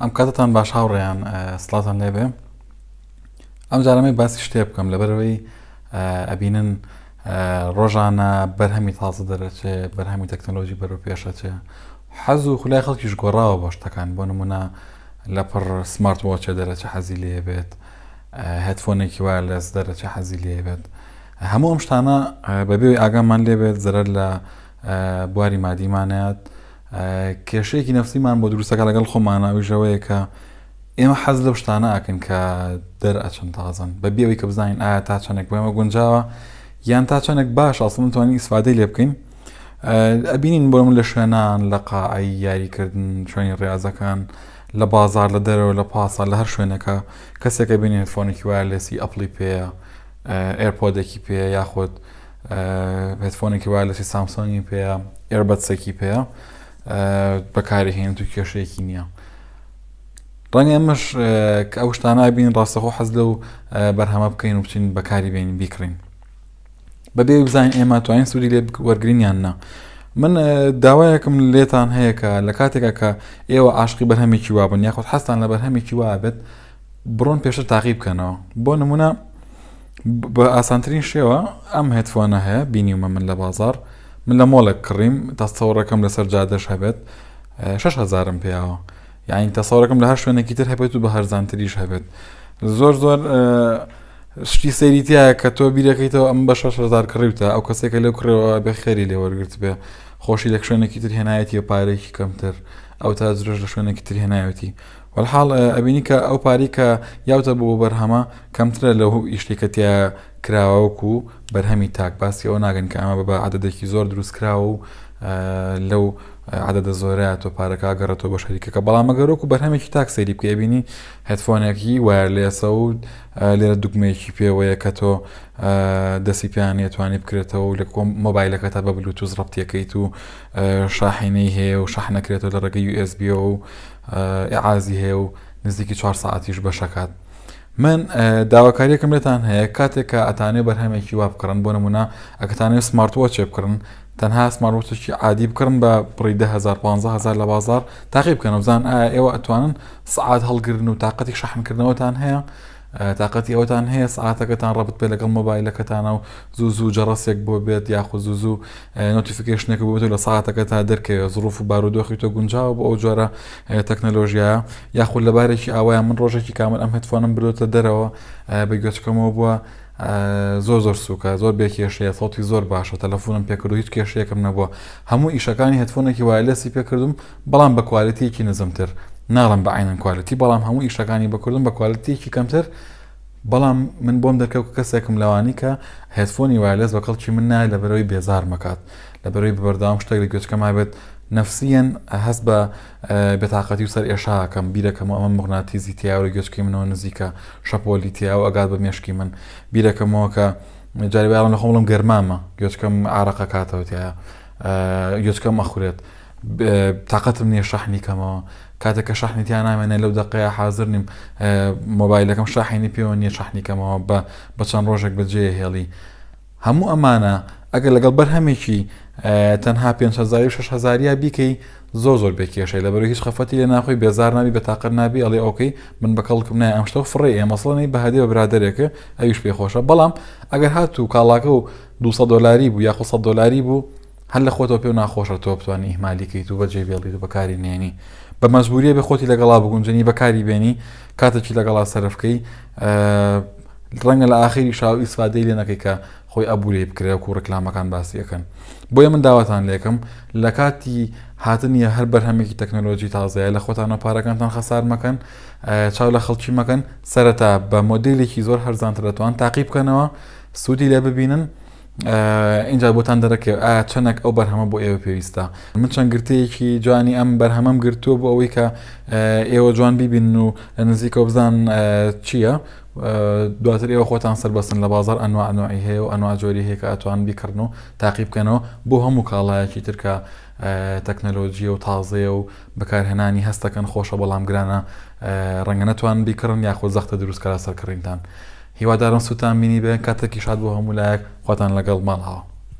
ئەم کاتتان باش هاوڕێیان سڵاتان لێبێ ئەم جارەمەی باسی شتێ بکەم لەبەرەوەی ئەبینن ڕۆژانە بەرهەمی تازە دەرەچێ بەرهەمی تەکنۆلۆژی بەرەو پێشەچێ حەز و خلای خەڵکیش گۆڕاوە بۆ شتەکان بۆ نمونە لە پڕ سمارت وۆچێ دەرەچە حەزی لێبێت هەتفۆنێکی وایە لەس دەرەچە حەزی لێبێت هەموو ئەم شتانە بەبێ ئەوەی ئاگامان لێ بێت زەرەر لە بواری مادیمان نەیات کێشەیەکی نەفسیمان بۆ دروستەکە لەگەڵ خۆمانە ئەویش ئەوەیە کە ئێمە حەز لەو شتانە ئاکەن کە دەرئەچن تازن بە بێەوەی کە بزانین ئایا تا چەندێک بۆێمە گونجاوە یان تا چەندێک باش ئاسڵم توانین ئیسفادەی لێ بکەین ئەبینین بۆ من لە شوێنان لە قاعی یاریکردن شوێنی ڕاضەکان لە بازار لە دەرەوە لە پاسە لە هەر شوێنەکە کەسێکە بینێت فۆنێکی وایە لەسی ئەپڵی پێەیە ئێرپۆدێکی پێیە یاخود هێدفۆنێکی وایلەسی سامسۆنگی پێیە ئێربەتسێکی پێیە بەکاری هێن تو کێشەیەکی نییە ڕەنگە ئەمەش کە ئەو شتانە بین ڕاستەخۆ حەز لەو بەرهەمە بکەین و بچین بەکاری بێنین بیکڕین بەبێ بزانین ئێمە توانین سوودی لێ وەرگرینیان نا من داوایەکم لێتان هەیە کە لە کاتێکە کە ئێوە عاشقی بەرهەمێکی وابن یاخود حەستان لە بەرهەمێکی وابێت بڕۆن پێشتر تاقی بکەنەوە بۆ نمونە بە ئاسانترین شێوە ئەم هێتفۆنە هەیە بینیومە من لە بازار من لە مۆڵێک کڕیم تاستەوەڕەکەم لەسەر جادەش هەبێت 6 هزارم پیاوە یاین تەسەڕەکەم لە هەر شوێنێکی تر هەبێت و بە هەرزانتریش هەبێت زۆر زۆر شتی سەیری تایە کە تۆ بیرەکەیتەوە ئەم بە 6 هزار کڕیوتە ئەو کەسێکە لەو کڕەوە بە خێری لێ وەرگرت بێ خۆشی لە شوێنێکی تر هێنایەتی و پارێکی کەمتر ئەو تا درژ لە شوێنێکی تر هێنایەتی وەلحاڵ ئەبینی کە ئەو پارەی کە یاوتە بۆ بەرهەمە کەمترە لەو ئیشتەی کە تیا کراوە وەکو بەرهەمی تاک باسی ئەوە ناگەن کە ئەمە بە عددێکی زۆر دروست کراوە و لەو عددە زۆرە تۆ پارەکە گەڕێتەوە بە شەریکەکە بەڵام مەگەرۆک و بەرهەمێکی تاک سەیری بکە بینی هەتفۆنێکی وایەر لێسە و لێرە دوگمەیەکی پێوەیە کە تۆ دەسی پیان توانی بکرێتەوە لە کۆم مۆبایلەکە تا بە بلوتوز ڕەتیەکەیت و شاحینەی هەیە و شەحنەکرێتەوە لە ڕێگە USB و ئیعازی هەیە و نزیکی چوار سەعاتیش بەشەکات من داواکاریەکەم لێتان هەیە کاتێک کە ئەتانێ بەرهەمێکی وا بکڕن بۆ نمونە ئەکتانێ سمارتوە چێ بکڕن تەنها سمارتوەچی عادی بکڕن بە بڕی دههزار 15هزار لە بازار تاقی بکەن وزان ئایا ئێوە ئەتوانن سعات هەڵگرن و تااقەتی شەحنکردنەوەتان هەیە تاقەتی ئەوەتان هەیە سەعاتەکەتان ڕەبت بێت لەگەڵ مۆبایلەکەتانە و زوو زوو جەڕەسێک بۆ بێت یاخود زوو زوو نۆتیفیکیشنێک بۆ لە ساعاتەکە تا دەرکەوێت زروف و بارودۆخی تۆ گونجاوە بۆ ئەو جۆرە تەکنەلۆژیە یاخود لە بارێکی ئاوایە من ڕۆژێکی کامل ئەم هەتفۆنم برۆتە دەرەوە بە گوێچکەمەوە بووە زۆر زۆر سوکە زۆر بێ کێشەیە سەڵتی زۆر باشە تەلەفۆنم پێکرد و هیچ کێشەیەکم نەبووە هەموو ئیشەکانی هەتفۆنێکی وایلسی پێکردم بەڵام بە کوالێتیەکی نزمتر ناڵێم بە عەینەن کوالێتی بەڵام هەموو ئیشەکانی بە کوردم بە کوالێتیەکی کەمتر بەڵام من بۆم دەرکەوت کەسێکم لەوانی کە هێتفۆنی وایلێس بە کەڵکی من نایە لە بەرەوەی بێزار مەکات لە بەرەوەی بەرداوام شتێک لە گوێچکە مابێت نفسیەن هەست بە بێتاقەتی و سەر ئێشاکەم بیرەکەم ئەمە مغناتیزی تیاوە گوێچکی منەوە نزیکە شەپۆلی تیاوە ئەگات بە مێشکی من بیرەکەمەوە کە جاری باڵم لە خۆڵم گەرمامە گوێچکەم عراقە کاتەوەتیە گوێچکەم ئەخورێت تاقەتم نیە شەحنی کەمەوە کاتێک کە شەحنی تیا نامێنێ لەو دەقەیە حازر نیم مۆبایلەکەم شاحێنی پێوە نیە شەحنی کەمەوە بە بە چەند ڕۆژێک بەجێ هێڵی هەموو ئەمانە ئەگەر لەگەڵ بەرهەمێکی تەنها 500 6هزاریا بیکەی زۆر زۆر بێ کێشەی لە بەرو هیچ خەفەتی لە ناخۆی بێزار نابی بە تاقەت نابی ئەڵێ ئۆکەی من بە کەڵکم نای ئەم شتە فڕێ ئێ مەسڵەنەی بەهادی بە برادێکە ئەویش پێ خۆشە بەڵام ئەگەر هاتوو کاڵاکە و 200 دلاری بوو یاخۆ 100 دلاری بوو هەر لە خۆتەوە پێو ناخۆشە تۆ بتوانی ئیهمالی کەیت و بەجێ بێڵیت و بەکاری نێنی بە مەجبوریە بێ خۆتی لەگەڵا بگونجێنی بەکاری بێنی کاتێکی لەگەڵا سەرفکەی ڕەنگە لە ئاخیری شاو ئیسفادەی لێ نەکەی کە خۆی ئەبووری بکرێ و ڕکلامەکان باسیەکەن بۆیە من داواتان لێکم لە کاتی هاتنیە هەر بەرهەمێکی تەکنەلۆژی تازەیە لە خۆتانە پارەکانتان خەسار مەکەن چاو لە خەڵکی مەکەن سەرەتا بە مۆدیلێکی زۆر هەرزانترەتوان تاقی بکەنەوە سوودی لێ ببینن ئینجا بۆتان دەرەکەوێت ئایا چەندێک ئەو بەرهەمە بۆ ئێوە پێویستە من چەند گرتەیەکی جوانی ئەم بەرهەمەم گرتووە بۆ ئەوەی کە ئێوە جوان ببین و لە نزیکە بزان چییە دواتر ئێوە خۆتان سەر بەسن لە بازار ئەنوانوعی هەیە و ئەنواجۆری هەیە کە ئەتوان بیکردن و تاقی بکەنەوە بۆ هەموو کاڵایەکی ترکە تەکنەلۆژیە و تازەیە و بەکارهێنانی هەستەکەن خۆشە بەڵام گرانە ڕەنگە نەتوان بیکڕن یاخۆ زەختە دروستکەرە سەرکڕینتان. هیوادارم سوتان بینیبێ کاتێکی شاد بۆ هەموو لایەک خواتان لەگەڵ ماڵاوە.